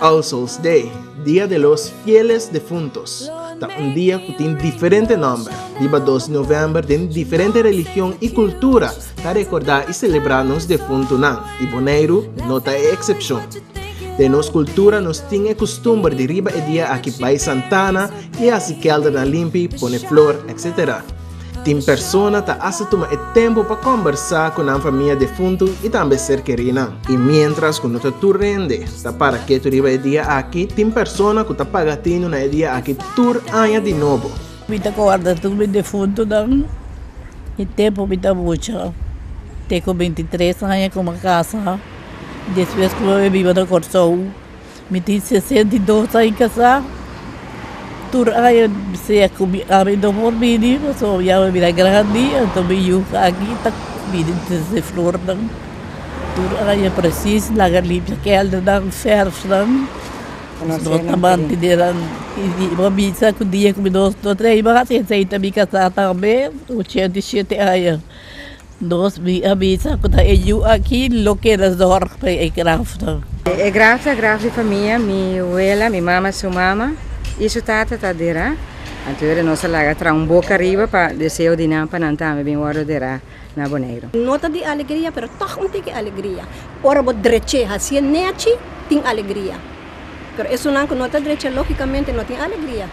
All Souls Day, Dia de los Fieles Defuntos, ta un dia cu tin diferente nomber. Riba dos di november den diferente religion y cultura ta recorda y celebra nos defuntunan y Boneiru no ta e excepcion. Den nos cultura nos tin e custumber di riba e dia aki bay Santana y haci keldernan limpi, pone flor, etc. Tin persona ta hasta tuma e tempu pa kombersá ku nan famia defuntu i tambe ser kerinan. I miéntras ku no ta tur hende ta para ketu riba e dia aki, tin persona ku ta paga atendu na e dia aki tur aña di nobo. Mi ta kòrda tur mi defuntunan. E tempu mi ta mucha, te ku binti tres aña kuma kasa, despues kuma mi biba na Kòrsou. Mi tin sesenta i dos aña kasá. Tur aña bisea ku mi ami no por bini pasobra mi ya bira grandi. Anto mi yu aki ta bini trese flornan. Tur aña presis laga limpia kèldernan, fèrfnan. No ta mantene nan. I bo bisa ku dia ku mi no trei mas, esei ta mi kasá tambe, ochenta i shete aña. Nos bi a bisa cu ta e yu aki loke ta zorg pa e graf ta. E graf ta graf di famia, mi wela, mi mama su mama y su tata ta dera, anto ora nos a laga traha un boca riba pa deseo di nan pa nan tambe bin wordo dera na Boneiru. No ta di alegria pero toch un tiki alegria. Ora bo dreche haci'e nechi tin alegria. Pero esunnan cu no ta dreche logicamente no tin alegria.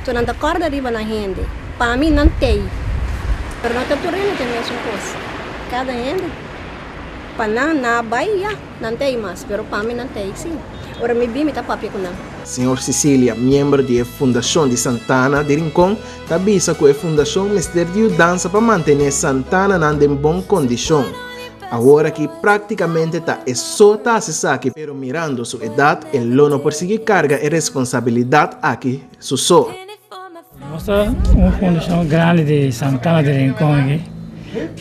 So nan ta corda riba nan hende. Pa mi nan t'ey. Pero no ta tur hende t'e mesun cos. Cada hende pa nan na bay ya nan t'ey mas pero pa mi nan t'ey si. Ora mi bin mi ta papia cu nan. Señor Cecilia, miembro di e Fundacion di Santana di Rincon, ta bisa cu e Fundacion mester di yudansa pa mantene Santananan den bon condicion. Awor aki práktikamente ta e so ta hasi esaki, pero mirando su edat e lo no por sigui karga e responsabilidat aki su so. Nos ta un fundashon grandi di Santana di Rincon aki,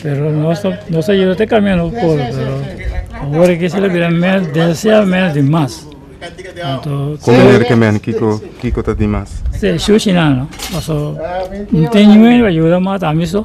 pero nos a yuda ta kamina un poko, pero awor aki esei lo bira mes desial mes di mas. Anto, Kon manera ke men? Kiko kiko ta di mas? Shushi nan no, paso no tin niño riba yuda mas ta ami so.